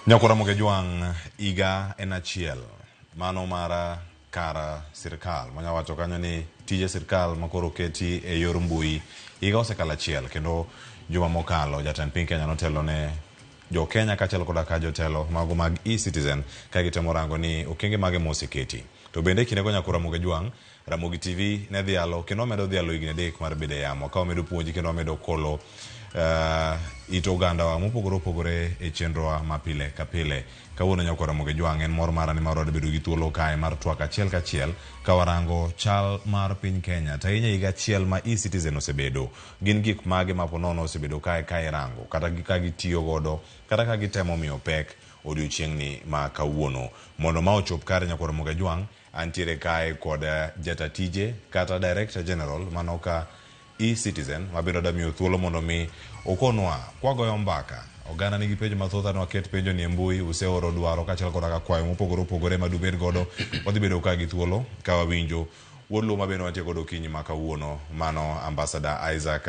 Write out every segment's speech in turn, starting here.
Nyakora Moge Jwang' higa en achiel mano mara kar sirkal manya wacho kanyo ni tije sirkal makoro keti e yor mbui higa osekalo achiel kendo juma mokalo jatend piny Kenya notelo ne jo Kenya kaachiel koda ka jotelo mago mag e-citizen ka gitemo rango ni okenge mage moseketi to bende kindego Nyakora Moge Jwang' Ramogi TV ne dhialo kendo wamedo dhialo higni adek mar bedo e yamo ka wamedo puonji kendo wamedo kolo uh, it ogandawa mopogore opogore e chenrowa ma pile ka pile kawuono nyako Ramogi Jwang' en mor mara nimar wadebedo gi thuolo kae mar twak achiel kachiel ka warango chal mar piny Kenya to ahinya higa achiel ma e-citizen osebedo gin gik mage ma ponono osebedo kae ka irango kata ka gitiyo godo kata ka gitemo miyo pek odiochieng'ni ma kawuono mondo ma ochop kare nyako Ramogi Jwang' Antiere kae kod jata tije kata Director General manoka e-Citizen mabiro damiyo thuolo mondo mi okonwa kwagoyo mbaka. Oganda nigi penjo mathoth anwa ket penjo ni e mbui useoro dwaro kachal kod ka kwayo mopogore opogore ma dubed godo wadhi bedo ka gi thuolo ka wawinjo wuod Luo ma bende wantie godo okinyi ma kawuono mano Ambassador Isaac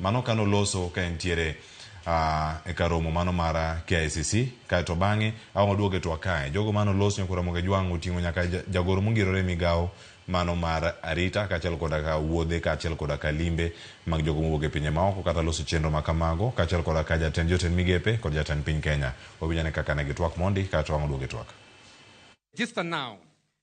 Mano kane oloso ka entiere uh, e kar romo mano mar KICC kaeto bang'e awang' waduoge to akae jogo mane oloso nyaka Ramogi Ajwang' oting'o nyaka jagoro mongirore migawo mano mar arita kaachiel koda ka wuodhe kaachiel koda ka limbe mag jogo mowuok e pinje maoko kata loso chenro ma kamago kaachiel koda ka jatend jotend migepe kod jatend piny Kenya. Wawinjane kaka ne gitwak mondi kaeto wang' waduoge twak. Register now.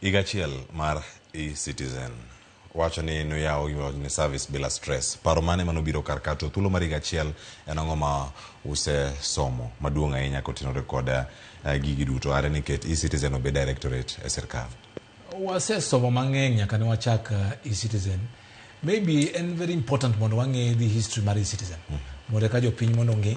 Higa achiel mar e-citizen wacho ni noyawo ni service bila stress. Paro mane manobiro kar ka to thuolo mar higa achiel en ang'o ma usesomo maduong' ahinya kotenore kod eh, gigi duto are ni ket e-citizen obed directorate e sirkal? wasesomo mang'eny nyaka ne wachak uh, e-citizen maybe en very important mondo wang'e the history mar e-citizen mondo eka jopiny mondo ong'e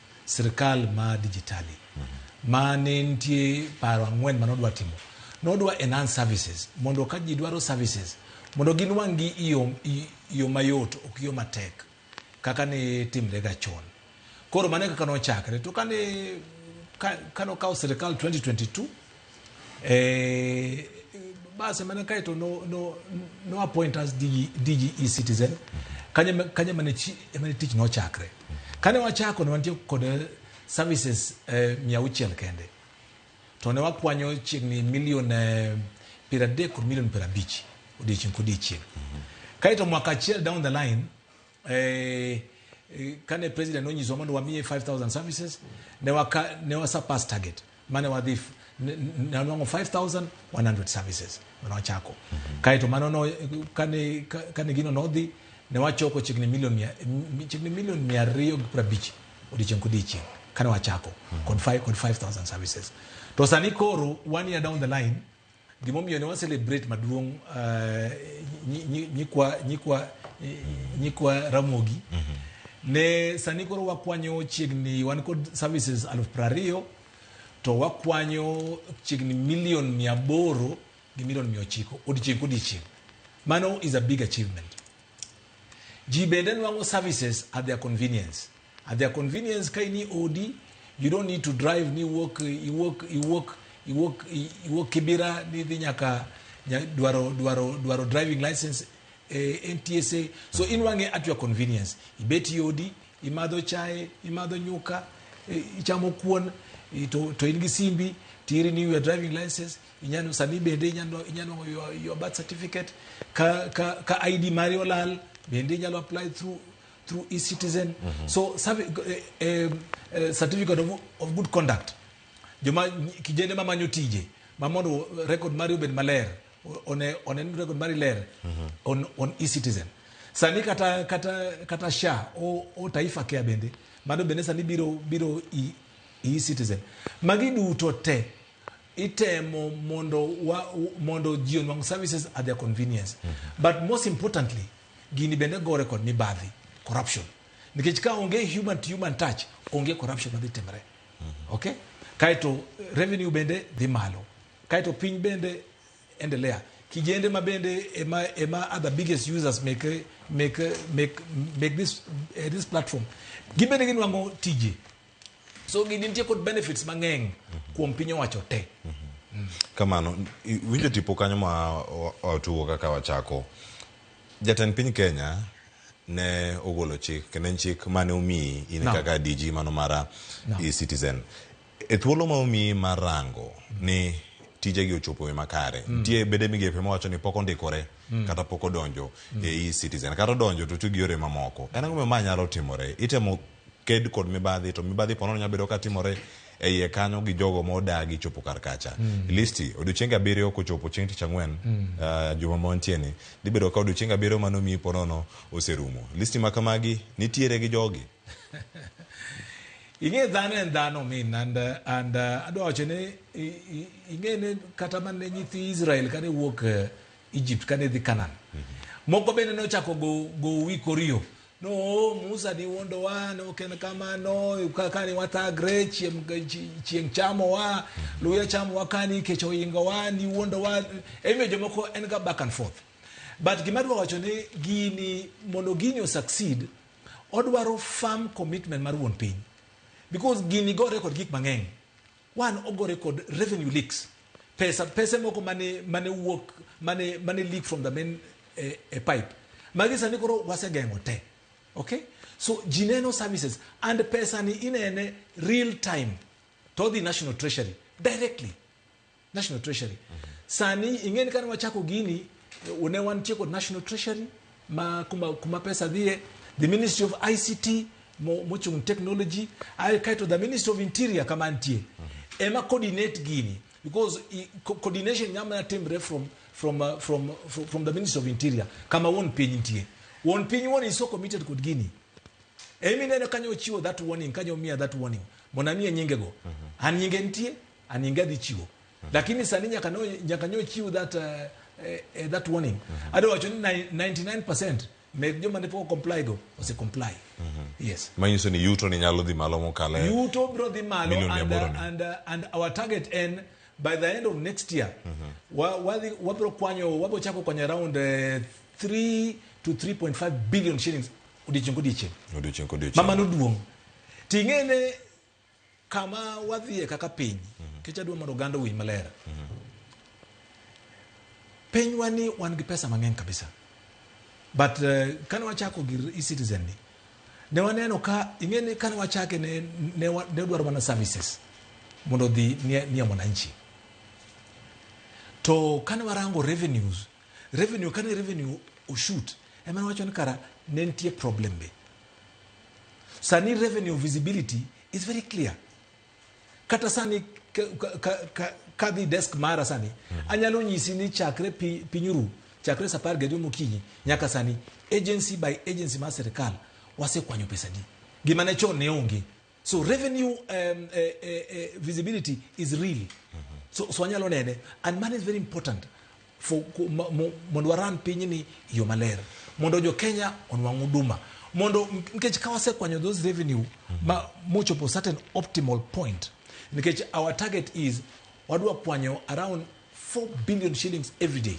sirkal ma dijitali ma ne nitie paro ang'wen ma nodwa timo nodwa enhance services mondo ka ji dwaro services mondo ginwang' gi yo mayot ok yo matek kaka ne timre ga chon koro mano e kaka nochakre to kane kane okawo sirkal 2022 eh, basi mana kae to no, no, no appoint as DG, DG e-citizen kanye, kanye mane, chi, mane tich nochakre kane wachako ne wantie kod eh, services eh, mia auchiel kende to ne wakwanyo chiegni milion eh, piero adek kod milion piero abich odiechieng' kodiechieng' mm -hmm. kae to mwaka achiel down the line eh, eh, kane president nonyiso mondo wamiye 5000 services ne waka ne wasurpass target mane wadhi f- n- n- nanwang'o 5100 services mane wachako kaeto mano no, kane, ka- kane gino nodhi ne wachoko chiegni milion mia- m- chiegni milion mia ariyo gi piero abich odiechieng' kodiechieng' kane wachako kod five- kod 5000 services to sani koro one year down the line Gimomiyo ne wa celebrate maduong' uh, nyi- nyi- nyikwa nyikwa eh, nyikwa Ramogi ne sani koro wakwanyo chiegni wan kod services aluf prariyo to wakwanyo chiegni milion mia aboro gi milion mia ochiko odiechieng' kodiechieng' mano is a big achievement ji bende nwang'o services at their convenience At their convenience ka ini odi, you don't need to drive ni walk i walk i walk i walk i walk kibira ni dhi nyaka nya- dwaro dwaro dwaro driving license eh, NTSA. So in wange at your convenience. Ibet i odi, imadho chae, imadho nyuka, eh, ichamo kuon, i- to to in gi simbi, tiri ni your driving license, inyalo sani bende inyalo inyalo your, your birth certificate ka ka ka ID mari olal bende inyalo apply through through e-citizen mm -hmm. so eh, eh, eh, certificate of, of good conduct joma kijende ma manyo tije ma mondo record mari obed maler one one record mari ler mm -hmm. on, on e-citizen sani kata kata kata sha o, o taifa care bende mano bende sani biro biro e, e-citizen magi duto te itemo mondo wa, mondo ji onwang services at their convenience mm -hmm. but most importantly Gini bende gore kod mibadhi, corruption. Nikech ka onge human to human touch, onge corruption madhi timre. Mhm. Okay? Kaito revenue bende dhi malo. Kaito piny bende endelea. Kijende ma bende ema, ema are the biggest users make, make, make, make this, uh, this platform. Gibende ginwango tije. so gini nitie kod benefits mang'eny kuom piny owacho te kamano i- winjo tipo kanyo ma wa- watuwo kaka wachako jatend piny kenya ne ogolo chik kendo en chik mane omiyi in Naam. kaka dg mano mara Naam. i citizen e thuolo ma omiyi mar rango ni tijegi ochopo e makare nitie bede migepe mawacho ni pok ondikore kata pok odonjo e e citizen kata odonjo to otiyo gi yore mamoko en ang'o ma nyalo timore itemo ked kod mibadhi to mibadhi ponono nyalo bedo ka timore e iye kanyo gi jogo ma odagi chopo kar kacha mm. listi odiochienge abiriyo kochopo chieng' tich ang'wen mm. uh, juma ma wantie ni dhi bedo ka odiochienge abiriyo mano miyi ponono oserumo listi ma kamagi nitiere gi jogi ing'e dhano en dhano min and uh, and uh, adwa wacho ni ing'e ne kata mane nyithi Israel kane wuok uh, Egypt kane dhi Canaan. Mm -hmm. Moko bende nochako go go wi korio. No, oh, Musa ni wondo wa, no ken kama no, kaka ni wata gre chiem chieng chamo wa, luya chamo wa kani kecho ingo wa ni wondo wa. Eme jomoko en ga back and forth. But gima dwa wacho ni gini mondo gini succeed, odwaro firm commitment mar wuon piny. Because gini gore kod gik mang'eny. Wan ogore kod revenue leaks. Pesa, pese moko mane, mane wuok, mane, mane leak from the main eh, eh, pipe. Magi sani koro wasegeng'o te. Okay? So ji neno services and pesa ni inene real time to odhi National Treasury directly. National Treasury. Sani ing'eni kane wachako gini, eh, ne wantie kod National Treasury, ma kuma, kuma pesa dhie the ministry of ict mo- mochung technology ae kaeto the ministry of interior kama nitie ema coordinate gini because i- co- coordination nyamana timre from, from, uh, from, from, from the ministry of interior kama wuon piny nitie wuon piny wuon iso committed kod gini emi neno kanyo ochiwo that warning kanyo omiya that warning mondo amiye nyingego an nyinge nitie an nyinge adhi chiwo lakini sani nyaka no nyaka nyo chiw that uh, eh, eh, that warning mm -hmm. ado wacho ni 99% meg joma ne pok comply go ose comply mm -hmm. yes manyiso ni yuto ni nyalo dhi malo mokale yuto bro dhi malo and, uh, and, uh, and our target en by the end of next year mm -hmm. wa, wa, wabro kwanyo wabro chako kwanyo around uh, eh, 3 to 3.5 billion shillings odiechieng' kodiechieng' odiechieng' kodiechieng' mama noduong' ting'ene Kama wadhiye kaka piny, mhm. kech adwa mondo oganda owinj maler. Mhm. Pinywa ni wan gi pesa mang'eny kabisa. But uh, eh, kane wachako gir e-citizen ni, ne waneno ka, ing'e ni kane wachake ne, ne, ne dwaro mana services mondo dhi nie, nie mwananchi. To kane warango revenues, revenue kane revenue oshut, ema wacho ni kara ne nitie problem be. Sani revenue visibility is very clear. Kata sani kadhi desk mara sani mm -hmm. anyalo nyisi ni chakre pi, pinyuru chakre sa apar gariyo mokinyi nyaka sani agency by agency mar sirikal wasekwanyo pesa di gima ne chon ne onge so revenue um, uh, uh, uh, visibility is real so, so wanyalo nene and money is very important for ku- mo- mo- mondo waran pinyni e yo maler mondo jo kenya onwang' huduma mondo nikech ka wasekwanyo those revenue ma mochopo certain optimal point nikech our target is wadwa kwanyo around 4 billion shillings every day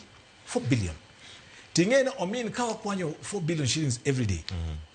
4 billion ting'e ni omin ka wakwanyo 4 billion shillings every day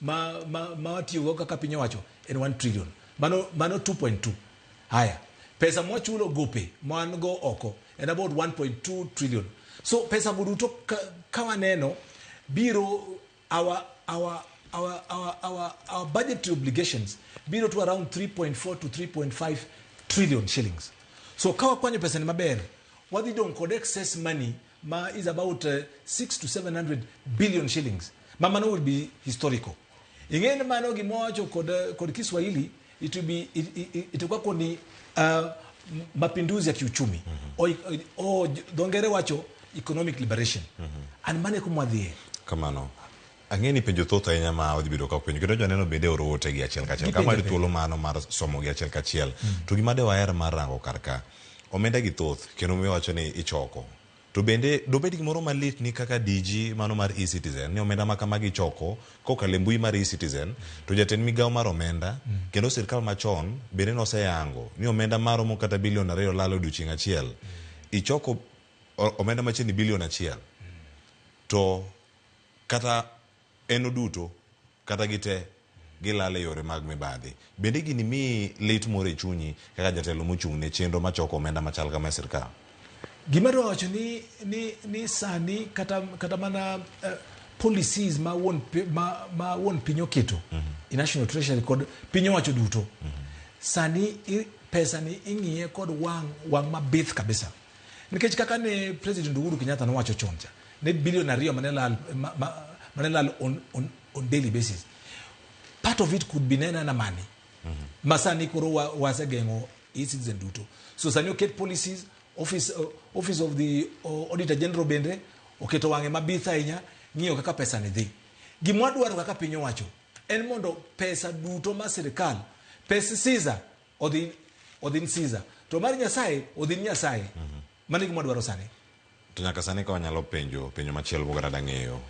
ma ma ma watiyogo kaka piny owacho en 1 trillion mano mano 2.2 haya pesa mwachulo gope man go oko en about 1.2 trillion so pesa go duto ka, ka waneno biro our our our our our, our budgetary obligations biro to around 3.4 to 3.5 trillion shillings so ka wakwanyo pesa ni maber wadhi dong kod excess money ma is about uh, 6 to 700 billion shillings ma mano will be historical ing'e ni mano gimowacho kod, uh, kod kiswahili it will be it, it, it, itakuwa koni uh, m- mapinduzi ya kiuchumi mm-hmm. o, o, dho ngere wacho economic liberation mm-hmm. and mane kumwadhie kamano Ang'eyo ni penjo thoth ahinya ma odhi bedo ka openjo kendo joneno bende oro ote gi achiel kachiel. Kama di thuolo mano mar somo gi achiel kachiel. Mm. To gima de waher mar rango kar ka. Omenda gi thoth kendo mi wacho ni ichoko. To bende dobed gimoro malit ni kaka DG mano mar e-citizen ni omenda ma kama gichoko kokale mbui mar e-citizen to jatend migawo mar omenda mm. kendo sirkal machon bende noseyango ni omenda maromo kata bilion ariyo lalo odiochieng' achiel mm. ichoko omenda machiegni bilion achiel mm. to Kata en oduto, kata gite, gilal e yore mag mibadhi. Bende gini miyi lit moro e chunyi kaka jatelo mochung' ne chenro machoko omenda machal kama e sirkal? Gima adwa wacho ni, ni, ni sani kata, kata mana uh, policies ma wuon, ma, ma wuon piny oketo, mm -hmm. National Treasury kod piny owacho duto, mm -hmm. sani i, pesa ni ing'iye kod wang', wang' mabith kabisa. Nikech kaka ne President Uhuru Kenyatta nowacho chon cha, ne billion ariyo mane lal ma- ma- mane lal on, on, on daily basis part of it could be nena na money ma sani koro wa- wasegeng'o e-citizen duto so sani oket policies office, uh, office of the uh, auditor general bende oketo wang'e mabith ahinya ng'iyo kaka pesa ni dhi gima wadwaro kaka piny owacho en mondo pesa duto ma sirikal pes siza odhi odhi ni siza to mar nyasaye odhi ni nyasaye Mano e gima wadwaro sani. To nyaka sani ka wanyalo penjo penjo machielo moko kata dang'eyo.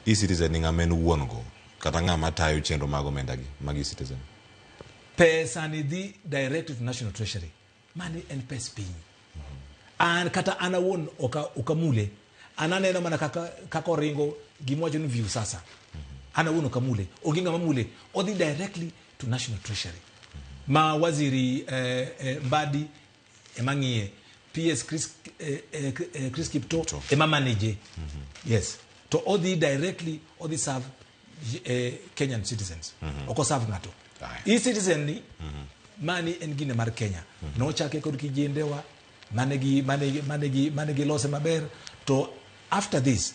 E-Citizen ni ng'ama en wuon go kata ng'ama tayo chenro mag omenda gi mag E-Citizen. Pesa ni dhi direct to National Treasury. Mani en pes piny. Mm -hmm. An kata an awuon oka, oka mule. An aneno mana kaka, kaka oringo gima wacho ni view sasa. Mm -hmm. An awuon oka mule. Onge ng'ama mule. Odhi directly to National Treasury. Mm -hmm. Ma waziri eh, eh, Mbadi ema ng'iye PS Chris, eh, eh, eh, Chris Kipto ema manage yes to odhi directly odhi serve eh, Kenyan citizens oko serve ng'ato Aye. hii citizen ni mani en gine mar Kenya nochake kod kijendewa mane gi mane gi mane gi mane gi lose maber to after this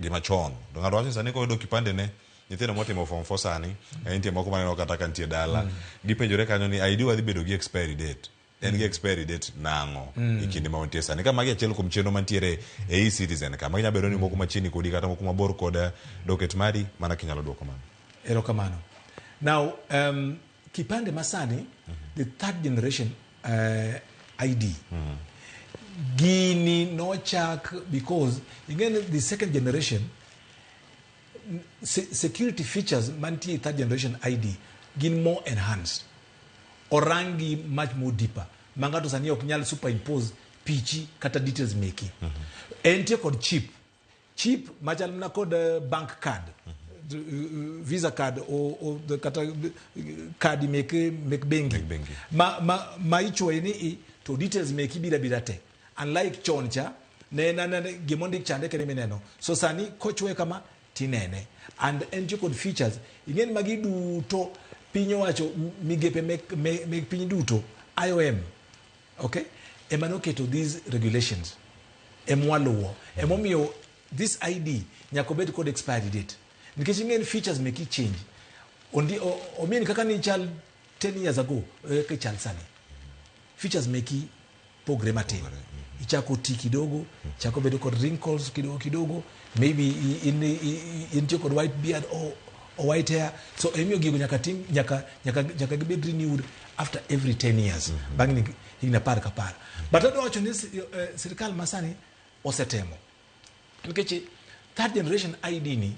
gima chon to ng'ato wacho ni sani koyudo kipande ne nyithindo motimo form 4 sani eh, nitie moko maneno kata ka nitie dala gipenjore kanyo ni ID wadhi bedo gi expiry date en gi expiry date nang'o e kinde ma wantie sani ka magi achiel kuom chenro mantiere e e-citizen ka magi nyalo bedo ni moko machiegni kodi kata moko mabor kod eh, docket mari mana kinyalo dwoko mano Erokamano. Now, um, Kipande masani the third generation eh, ID gini nochak because ingeni the second generation n- se- security features mantie e third generation ID gin more enhanced orangi much more deeper ma ng'ato sani ok nyal superimpose pichi kata details meki entie kod chip cheap machal na kod eh, bank card mm -hmm. Uh, visa card or, or the kata kadi uh, mek mek bengi ma ma ma ichwoye ni i to details mek ibira bira te unlike chon cha ne na na gimo ndik chande kene mineno so sani kochwe kama tinene and en to kod features ingen magi duto piny owacho migepe mek mek piny duto IOM Okay? Ema noketo these regulations. Emwaluwo. Emomiyo this ID nyaka obed kod expiry date. Nikech ing'eni features make it change. Ondi, o, o mean kaka ni chal 10 years ago, e kaka ichal sani. Features make it pogre matin. Ichako ti kidogo, chako bedo kod wrinkles kidogo kidogo, maybe i- in i- i- intie kod white beard or, or white hair so emiyo gigo nyaka tim nyaka nyaka nyaka gibed renewed after every 10 years bang' ni- higni apar kapar but adwa wacho ni si- eh, sirikal masani osetemo nikech third generation id ni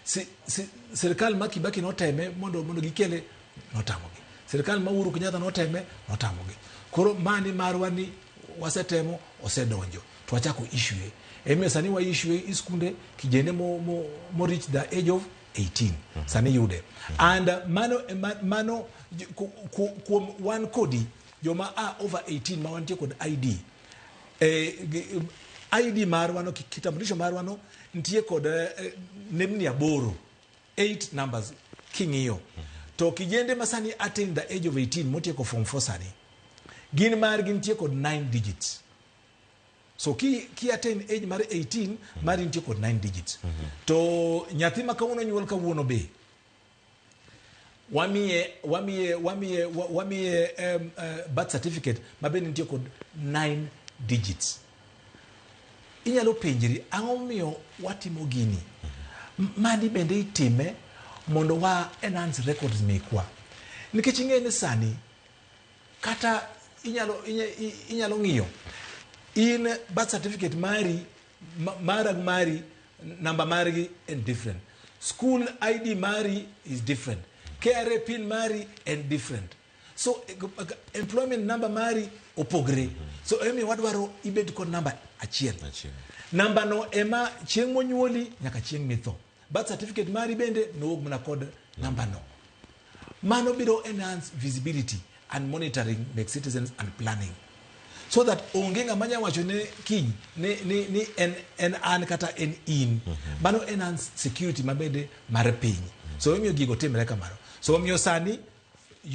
si, si, sirikal ma kibaki noteme mondo mondo gikele notamogi sirikal ma uhuru kenyatta noteme notamogi koro mani marwa ni wasetemo osedonjo to wachako issue emiyo sani wa issue i skunde kijende mo, mo, mo reach the age of 18 mm -hmm. sani yude mm -hmm. and uh, mano, eh, man, mano kuom wan kodi joma a over 18 ma wantie kod id eh, id marwano kitambulisho marwano nitie kod eh, eh, nembni aboro 8 numbers king'iyo mm -hmm to kijende ma sani attain the age of 18 motieko form 4 sani gin margi nitie kod 9 digits so ki ki attain age mar 18 mari nitie kod 9 digits to nyathi ma kawuono nyuol kawuono be wamiye wamiye wamiye wa- wamiye um, uh, birth certificate ma bende nitie kod 9 digits inyalo penjri ang'o momiyo watimo gini M- mani bende itime mondo wa enhance records mekwa nikech ing'e ni sani kata inyalo inya- i- inyalo ng'iyo in birth certificate mari ma- mara gi mari namba margi en different school id mari is different kra pin mari en different so eh, g- g- employment number mari opogre so emiyo wadwaro ibed kod namba achiel Achiel. nambano ema chieng' monyuoli nyaka chieng' mitho Birth certificate mari bende nowuog mana kod namba no. Mano biro enhance visibility and monitoring make citizens and planning so that onge ng'ama nya wacho ne kiny ni, ni, ni en, en an kata en in mm -hmm. mano enhance security mabede mar piny mm -hmm. so omiyo gigo timre kamano so omiyo sani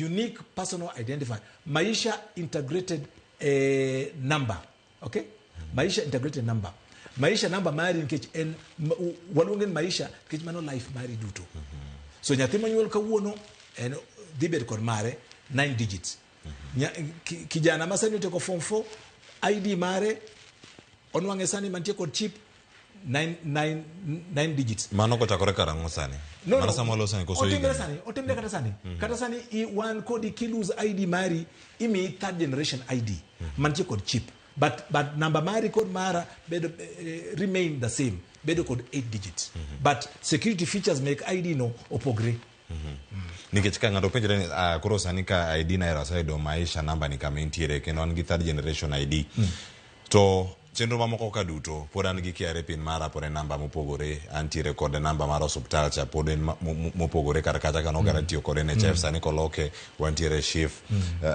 unique personal identifier maisha integrated eh, number okay maisha into a greater number maisha number mari nikech en ma- u- waluonge ni maisha nikech mano life mari duto so nyathi monyuol kawuono en dhi bedo kod mare nine digits Nya- ki- kijana ma sani otieko form 4 id mare onwang'e sani mantie kod chip nine, nine, nine digits mano kochakore karang'o sani no, mana no, sama losani koso otimre sani otimre kata sani mm -hmm. kata sani i wan kodi kilose id mari imiyi third generation id mm -hmm. mantie kod chip but, but namba mari kod mara bedo uh, remain the same bedo kod 8 digits mm -hmm. but security features make id no opogre nikech ka ng'ato penjore ni ah, koro sani ka id naero aseyudo maisha namba ni kama entiere kendo an gi third generation id to chenro mamoko ka duto pod an gi KRA pin mara pod en namba mopogore antiere kod namba mar osuptal cha pod en ma- mo- mo- mopogore kar kacha kano gara tiyo kod NHF sani koloke wantiere shif Eh,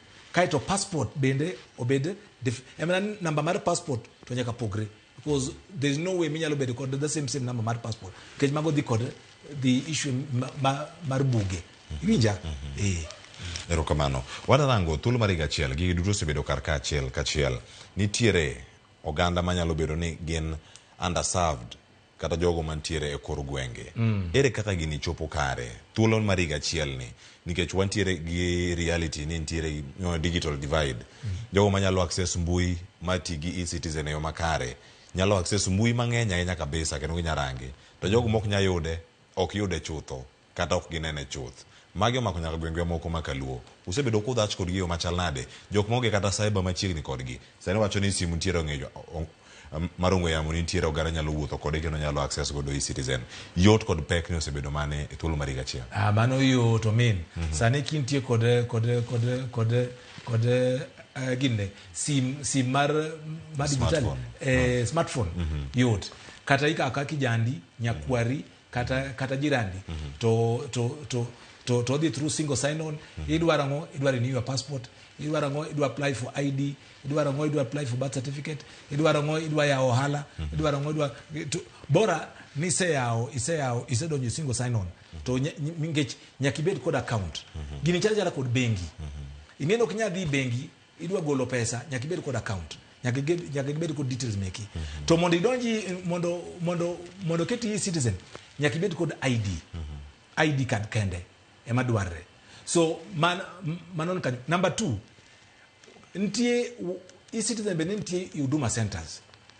kaeto passport bende obed dif- em, na- namba mar passport to nyaka pogre because there is no way minyalo bedo kod the same same number mar passport nikech mago dhi kod the issue ma, ma, mar buge iwinja eh erokamano wadarango thuolo mar higa achiel gigi duto osebedo kar ka achiel kachiel nitiere oganda manyalo bedo ni gin underserved kata jogo mantiere e kor gwenge mm. ere kaka gini chopo kare thuolo mar higa achielni nikech wantiere gi reality ni nitiere you know, digital divide mm. jogo manyalo access mbui mati gi e-citizen e yo makare nyalo access mbui mang'eny ahinya kabisa kendo ginyarange to jogo mok nyayude ok yude chutho kata ok ginene chuth. Magi omako nyaka gweng'wa moko ma kaluo. Usebedo kudhach kodgi eyo machal nade? Jok maonge kata cyber machiegni kodgi. Sani wacho ni simu nitiere ong'e mar ong'we yamo nitiere oganda nyalo wuotho kode kendo nyalo access godo e-citizen. Yot kod pek ni osebedo mane e thuolo mar higa achiel? Ah, mano yot omin. Sani kintie kod kod kod kod kod eh, ginne sim sim mar mar digital Smartphone. eh, smartphone yot. Kata ikawo akawa kijandi, nyakwari kata kata jirandi mm -hmm. to to to to to odhi through single sign on mm -hmm. idwaro ang'o idwaro renew your passport idwaro ang'o idwa apply for id idwaro ang'o idwa apply for birth certificate idwaro ang'o idwa yawo ohala mm -hmm. idwaro ang'o idwa to, bora ni iseyawo iseyawo isedonjo single sign on mm -hmm. to nikech nyaka ibed kod account mm -hmm. gini chalo chala kod bengi mm -hmm. ing'eni ok nyal dhi bengi idwa golo pesa nyaka ibed kod account nyaka gibed nyaka gibed kod details meki mm -hmm. to mondo idonji mondo mondo mondo keti e citizen nyaka ibed kod ID mm -hmm. ID card kende ema dwarre so man manon kanyo number 2 nitie e citizen be nitie huduma centers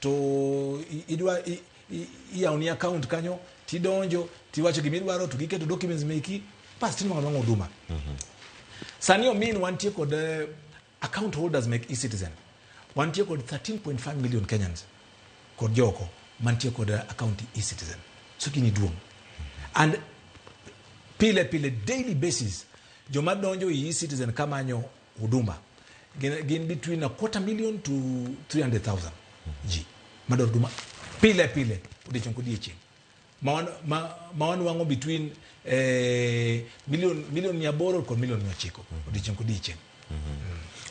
to i- idwa i- i- iyawoni account kanyo tidonjo tiwacho gima idwaro to giketo documents meki bas tinwang'o nwang'o huduma sani omin wantie kod eh, account holders mek ecitizen wantie kod 13.5 million kenyans kod joko mantie kod eh, account ecitizen so gini duong' and pile pile daily basis joma donjo e ecitizen kamanyo Huduma gin, gin between a quarter million to 300,000 ji madwaro huduma pile pile odiechieng' kodiechieng' ma wan- ma- ma wanwang'o between eh, million million mia aboro kod million mia ochiko odiechieng' kodiechieng'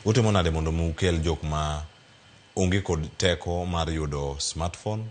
utimo nade mondo mi ukel jok ma onge kod teko mar yudo smartphone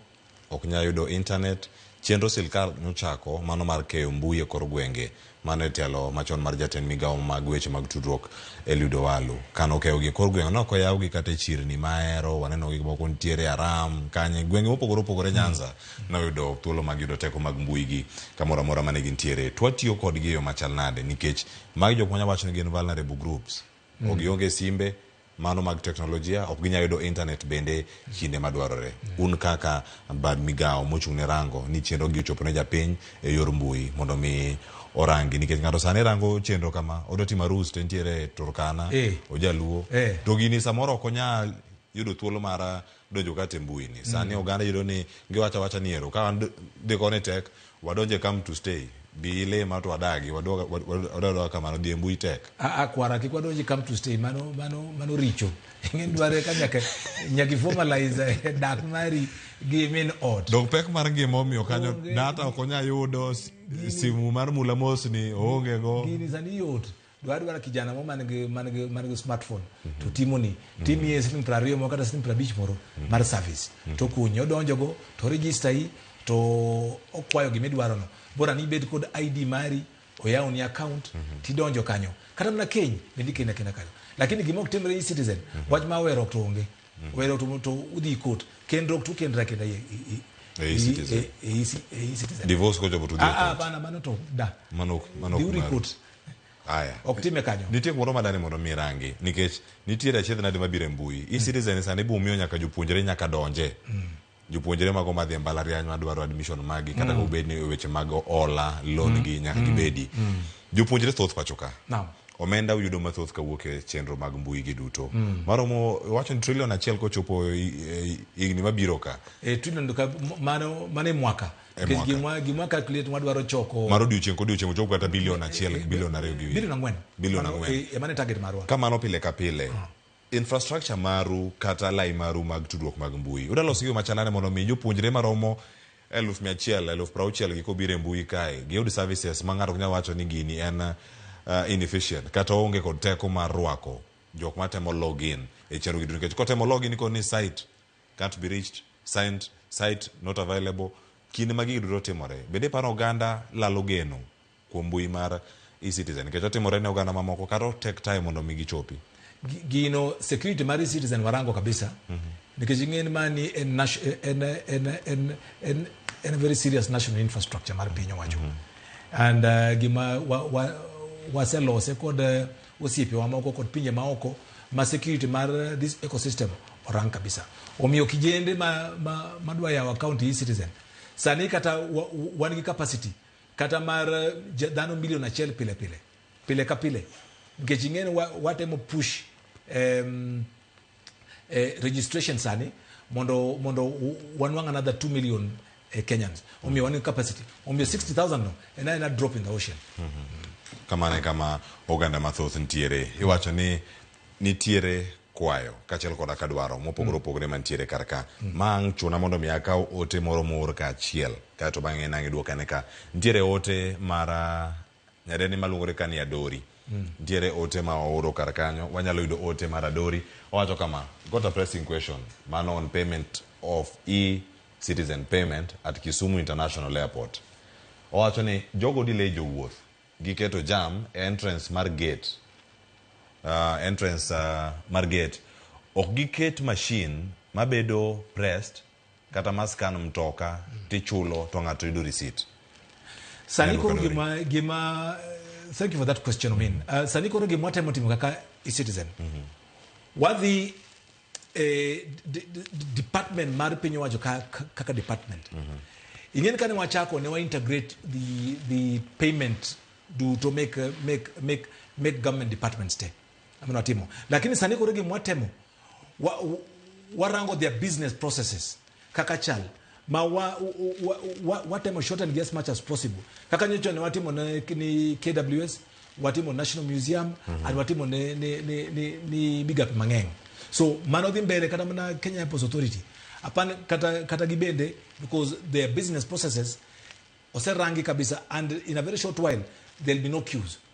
Ok nyal yudo internet. Chenro silkal nochako mano mar keyo mbui e kor gwenge mano e telo machon mar jatend migawo mag weche mag tudruok Eliud Owalu. Kane okeyogi e kor gwenge ne ok oyawgi kata e chirni ma Ahero, wanenogi moko nitiere Aram, Kanye, gwenge mopogore opogore Nyanza ne oyudo thuolo mag yudo teko mag mbui gi kamoro amora mane gintiere. To watiyo kodgi e yo machal nade nikech magi jok manya wacho ni gin vulnerable groups. Gionge simbe, mano mag teknolojia ok ginyal yudo intanet bende kinde madwarore. Un kaka bad migawo mochung' ne rango ni chenrogi ochopo ne japiny e yor mbui mondo mi orangi nikech ng'ato sani rango chenro kama odwa timo arus to entiere Turkana, eh. Ojaluo eh. to gini samoro ok onyal yudo thuolo mar donjo kata e mbui ni sani oganda yudo ni giwacho awacha ni ero ka wan dhi koni tek wadonje come to stay bi ilima to wadagi wadoga wad- wadoga kamano dhi e mbui tek A- a kwara kik wadonji come to stay mano mano mano richo ing'en dware ka nyaka nyaka formalize dak mari gi min ot dok pek mar ngima omiyo kanyo Onge. data ok onya yudo s- simu mar mula mosni oonge go gini sani yot dwa dwara kijana mo man gi man gi man gi smartphone mm -hmm. to timo ni mhm. timi ye siling prario mo kata siling prabich moro mm -hmm. mar service mm -hmm. to kunyo donjo go to register yi to okwayo gimi dwaro no bora ni bed kod ID mari oyawo ni account mm -hmm. tidonjo kanyo kata mna keny bendi kena kena kanyo lakini gimo kutemre yi citizen mm -hmm. wach ma wero to onge mm -hmm. wero to to udhi court kendro to kendra kenda ye e citizen e citizen divorce ko jobo to dhi court ah ah bana mano to da mano mano dhi court Aya. Ok time kanyo. Nitie kumoro ma dani mondo mi rangi nikech nitiere achiedh nadi mabiro e mbui. Mm. E-citizen sani ibo miyo nyaka jopuonjre nyaka donje. Mm. Jopuonjre mago madhi e mbalariany madwaro admission magi kata mm. obed ni e weche mag ola, loan mm. gi nyaka mm. gibedi. Mm. Jopuonjre thoth pacho ka. Naam. No omenda uyudo mathoth kawuok e chenro mag mbui gi duto mm. maromo wacho ni trilion achiel kochopo e, e, higni mabiro ka e, trilion mano e mwaka E Nikech mwaka. gimwa gimwa calculate mwadwaro choko mar odiochieng' kodiochieng' ochopo kata bilion achiel gi bilion ariyo gi bilion ang'wen. Bilion Mano, ang'wen. eh, Emane target marwa. kamano pile ka pile infrastructure maru kata lai maru mag tudruok mag mbui udaloso yo machalane mondo mi jopuonjre maromo eluf mia achiel eluf prauchiel gi kobiro e mbui kae giyud services ma ng'ato ok nyal wacho ni gini en uh, inefficient kata onge kod teko mar rwako jok matemo login e chenro gi duto nikech kotemo login ikoni site can't be reached, signed, site not available. Kinde ma gigi duto timore, bende iparo oganda lalo geno kuom mbui mar e-citizen nikech otimore ne oganda mamoko kata o take time mondo mi gichopi? Gi- Gino security mar e-citizen warango kabisa nikech ing'eni mani en, nat- en, en, en, en, en very serious national infrastructure mar piny owacho and uh, gima waselose wa, wa waselose kod uh, osiepewa moko kod pinje maoko ma security mar this ecosystem orang kabisa. Omiyo kijende ma, ma, ma dwa yawo account e citizen sani kata wa, wan gi capacity kata mar eh, ja- dhano milion achiel pile pile pile ka pile nikech ing'eni wa- watemo push em, eh, registration sani mondo mondo u- wanwang' another 2 million eh, kenyans omiyo wan gi capacity omiyo 60000 no en aena drop in the ocean kamano e kama oganda mathoth nitiere iwacho ni nitiere kwayo kaachiel koda ka dwaro mopogore opogore mantiere kar ka ma ang' chuna mondo mi akaw ote moro moor kaachiel kaeto bang'e nang' idwokane ka nitiere ote mar ah, Nyadendi maluongore ka ni Adori. Nitiere ote ma ooro kar kanyo. Wanyalo yudo ote mar Adori. Owacho kama, Got a pressing question. Mano on payment of e-citizen payment at Kisumu International Airport. Owacho ni jogo delay jowuoth gi keto jam e entrance mar gate. Uh, entrance uh, mar gate. Ok giket machine mabedo pressed kata ma scan mtoka tichulo to ng'ato yudo receipt sani koro gima gima thank you for that question min mm -hmm. uh, sani koro gima watemo timo kaka e-citizen mm -hmm. wadhi eh, department mar piny owacho kaka ka, ka department mm -hmm. ing'eni kane wachako ne wa integrate the, the payment duto make, make, make, make government departments te amene watimo lakini sani koro gima watemo wa, wa, warango their business processes kaka chal ma wa, wa, wa, watemo shorten gi as much as possible kaka nyocha ne watimo ne ni KWS watimo National Museum mm -hmm. and watimo ne ni, ni, ni, ni migape mang'eny so mano dhi mbele kata mana Kenya Airports Authority apan kata kata gibende because their business processes oserangi kabisa and in a very short while there'll be no queues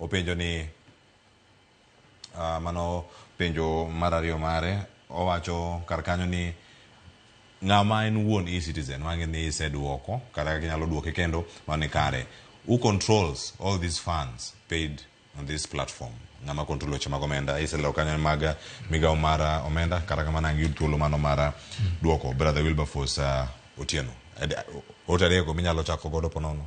Openjo ni uh, mano penjo mar ariyo mare owacho kar kanyo ni ng'ama en wuon e-citizen wang'e ni iseduoko kata kaka inyalo duoke kendo mane kare who controls all these funds paid on this platform ng'ama control weche mag omenda iselero kanyo mag migawo mar uh, omenda kata kamano ang' yud thuolo mano mar uh, duoko brother wilberforce uh, otieno Ade- ote adekgo minyalo chako godo ponono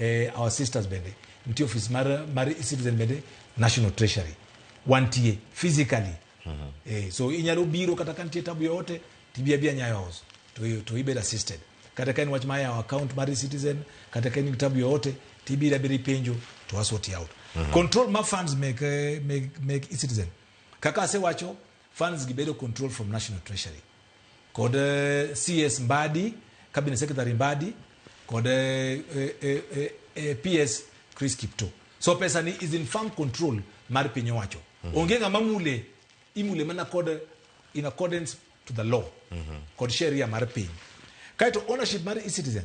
eh, our sisters bende nitie office mar, mar citizen bende national treasury wantie physically mm -hmm. eh, so inyalo biro kata ka nitie tabu yoyote tibia bia nyayo house to, to ibed assisted kata ka en wach ma yawo account mar citizen kata ka en tabu yoyote tibira bira ipenjo to asort out mm -hmm. control ma funds make, eh, make, make citizen kaka asewacho Funds gibedo controlled from National Treasury. Kod eh, CS Mbadi, Cabinet Secretary Mbadi, kod eh, eh, eh, eh, PS Chris Kipto. So pesa ni is in firm control mar piny owacho. Onge ng'ama mule, imule mana kod in accordance to the law kod sheria mar piny. Kaito ownership mar e-citizen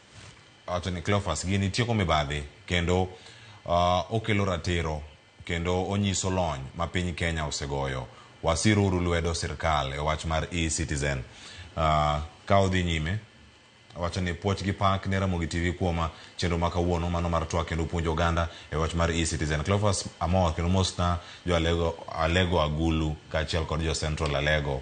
Wacho ni Cleophas gini tieko mibadhi kendo okelo ratiro kendo onyiso lony ma piny Kenya osegoyo. Wasir uru lwedo sirkal e wach mar e-citizen. Ka odhi nyime, wacho ni puoch gi pak ne Ramogi TV kuom chenro ma kawuono mano mar twak kendo puonjo oganda e wach mar e-citizen. Cleophas amor kendo mosna jo Alego Agulu kaachiel kod jo Central Alego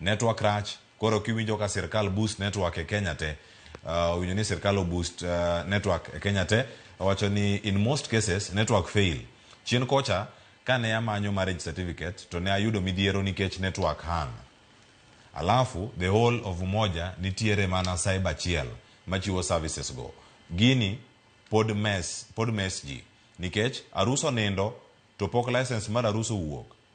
Network rach, koro kiwinjo ka sirkal boost network e Kenya te, uh, owinjo ni sirkal oboost uh, network e Kenya te, owacho ni in most cases network fail. Chien kocha kane amanyo marriage certificate to ne ayudo midhiero nikech network hang. Alafu the whole of Umoja nitiere mana cyber achiel machiwo services go. Gini pod mess, pod mess ji nikech arus onindo to pok license mar arus owuok.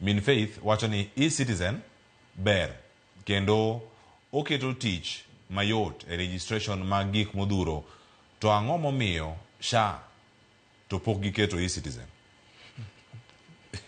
Min Faith wacho ni e-Citizen ber kendo oketo tich mayot e registration mag gik modhuro to ang'o momiyo SHA to pok giketo e-Citizen?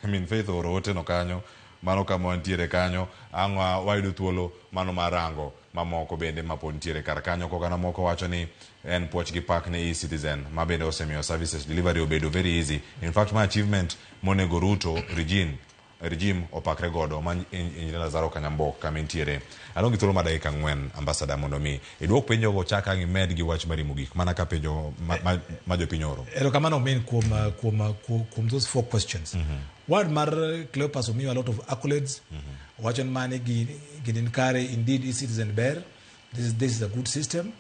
Min Faith ooro ote no kanyo, mano kama wantiere kanyo, ang' wayudo thuolo mano mar rango. mamoko bende ma pod ntiere kar kanyo. Kogana moko wacho ni en puoch gi pak ne e-citizen ma bende osemiyo services delivery obedo very easy. In fact ma achievement monego Ruto regime regime opakre godo ma Engineer Lazaro Kanyambok kama intiere. Adong' gi thuolo ma dakika ang'wen ambassador mondo mi iduok penjogo chak ang' imed gi wach mar rimo gik mana ka penjo ma, ma, ma jopiny oro. Erokamano min kuom uh, kuom uh, kuom, kuom those four questions. Word mar Cleopas omiyo a lot of accolades. Owacho ni mani gini nikare, indeed eCitizen ber, this is, this is a good system.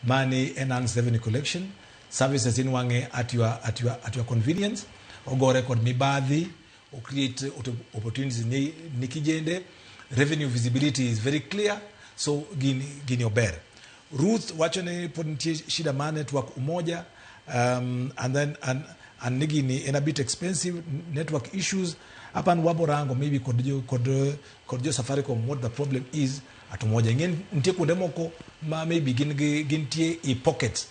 Mani enhanced revenue collection services in wange at your, at your, at your convenience. Ogore kod mibadhi, o create opportunities ni, ni kijende. Revenue visibility is very clear, so gini, gini ober. Ruth wacho ni pod nitie shida mar network Umoja um, and then and, and nigi ni en a bit expensive network issues hapa ni wabo rango maybe kod jo kod kod jo Safaricom what the problem is at Umoja ng'e nitie kuonde moko ma maybe gin gi gintie e pockets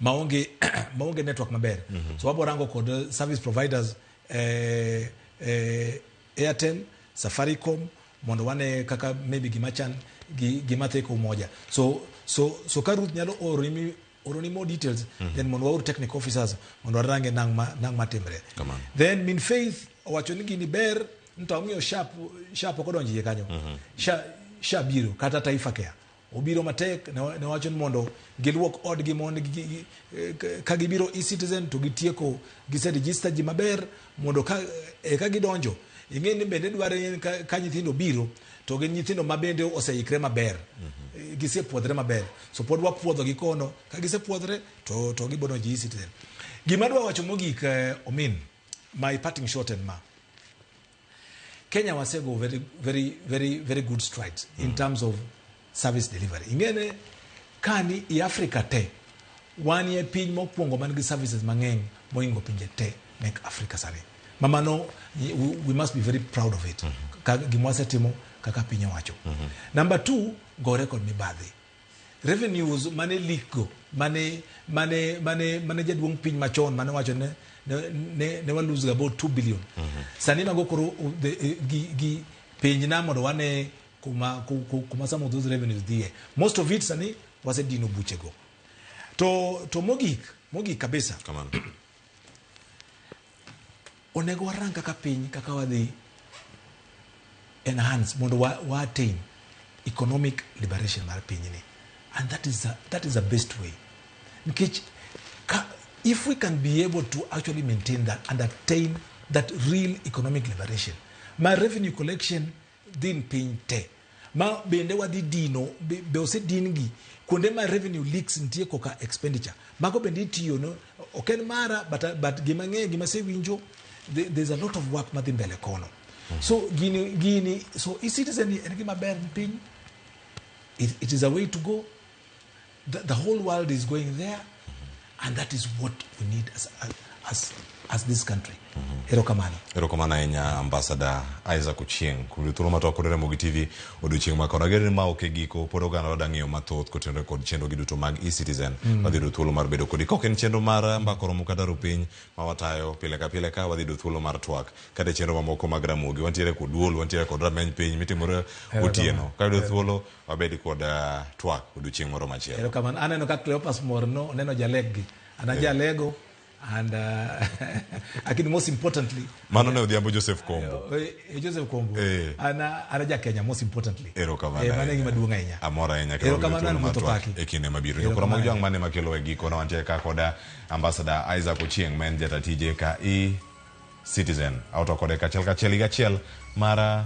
maonge maonge network maber mm -hmm. so wabo rango kod uh, service providers eh, eh, Airtel Safaricom mondo wane kaka maybe gima chan gi gima tek umoja so so so ka Ruth nyalo oroni mi oroni more details mm. then mondo waor technical officers mondo warange nang ma nang matimre then min faith owacho ni gini ber nto amiyo sharp sharp okodonjie kanyo mm -hmm. sharp, sharp biro kata taifa care Obiro matek ne wacho ni mondo giluok odgi mondo ka gibiro e-citizen to gitieko gise register ji maber mondo ka eka gidonjo ing'e ni bende dwaro ka nyithindo biro to gin nyithindo ma bende oseikre maber mhm. gisepuodhre maber so pod wapuodho gi kono ka gisepuodhre to to gibodo ji e-citizen gima dwa wacho mogik eh, omin my parting shot en ma Kenya wasego very very very very good strides mm. in terms of service delivery. Ingene kani i Africa te wan ye piny mokwongo man gi services mang'eny moingo pinje te mek Africa sani. Mama no we, we must be very proud of it. Mm -hmm. Ka gimwasetimo kaka piny owacho. Mm -hmm. Number 2 gore kod mibadhi. Revenues mane leak go mane mane mane mane jaduong' piny machon mane wacho ne ne, ne wa lose about 2 billion. Mm -hmm. Sani mago koro eh, gi gi piny na mondo wane kuma kuma some of those revenues dhie. Most of it sani wasedino buche go. To to mogik mogik kabisa. Come on. Onego warang kaka piny kaka wadhi enhance mondo wa, wa attain economic liberation mar pinyni and that is a, that is the best way nikech ka, if we can be able to actually maintain that and attain that real economic liberation my revenue collection din piny te ma bende wadhi dino be, be osedin gi kuonde ma revenue leaks nitie koka expenditure mago bende itiyo no ok en mara but, but gima ng'eyo gima sewinjo the- there's a lot of work madhi mbele kono so gini gini so e-citizen ni en gima ber ni piny it, it is a way to go The, the whole world is going there, and that is what we need as, as, as this country. Mm-hmm. Erokamano. Erokamano ahinya Ambassador Isaac Ochieng. Kudu thuolo ma twakodore Ramogi TV odiochieng' ma kono. ni ma ok e giko pod oganda wadwa ng'eyo mathoth kotenore kod chenrogi duto mag e-citizen. Mm. Wadhi yudo thuolo mar bedo kodi. Kok en chenro mar eh, mbako romo kata rupiny ma watayo pile ka pile ka wadhi yudo thuolo mar twak kata e chenro mamoko mag Ramogi. Wantiere kod duol, wantiere kod rameny piny mitimore otieno. Ka yudo thuolo wabed kod uh, twak odiochieng' moro machielo. Erokamano. Aneno ka Cleopas mor no oneno jaleggi. Ana yeah. jalego and uh, lakini most importantly mano ne odhiambo Joseph Kombo uh, uh, Joseph Kombo eh. ana ana ja Kenya most importantly ero kamano eh, mano gima duong' ahinya amora ahinya ero kamano ni moto paki e kinde mabiro jokora mag jwang' mane makelo e giko na wantie ka koda ambassador Isaac Ochieng men jata tije ka i citizen auto kode kachiel kachiel higa achiel mara